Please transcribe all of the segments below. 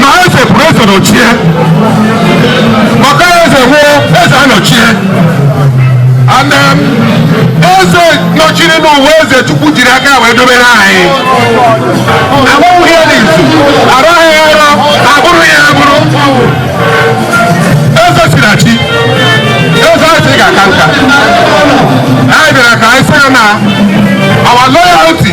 na eze pụrụ eze nọchie maka eze nwụọ eze anọchie and then eze nọchiri bụ eze chukwu jiri aka wee dobere anyị agbanwụghị ya n'izu araghị ya ara abụrụ ya abụrụ eze si na chi eze anyị sị ga-aka nka anyị bịara ka anyị sị ya na our loyalty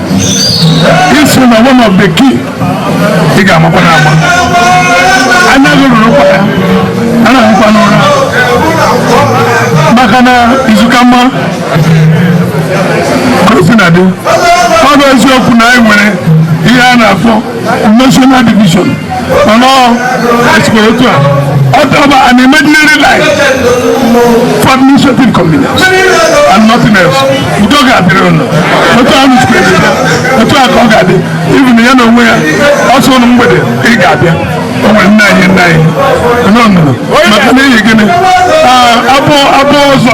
iso na one of the key ị ga-amakwa na agba anya gị rụrụ ụkwa ya anaghịkwa n'ụra maka na izu ka mma ka o si na dị ọ bụ eziokwu na anyị nwere ihe a na-akpọ national division ọ̀nà ẹ̀sìkòrò tó a ọ̀tọ̀ ọ bụ an imaginary line for administrative convenience and nothing else udo ga-adịrị ụnụ otu ahụ sikwa ebe ya otu a ka ọ ga-adị even ya na onwe ya ọsọ ụnụ mgbede ị ga-abịa o nwere nna anyị nna anyị nọ nọ maka na eyi gịnị abụọ abụọ ọzọ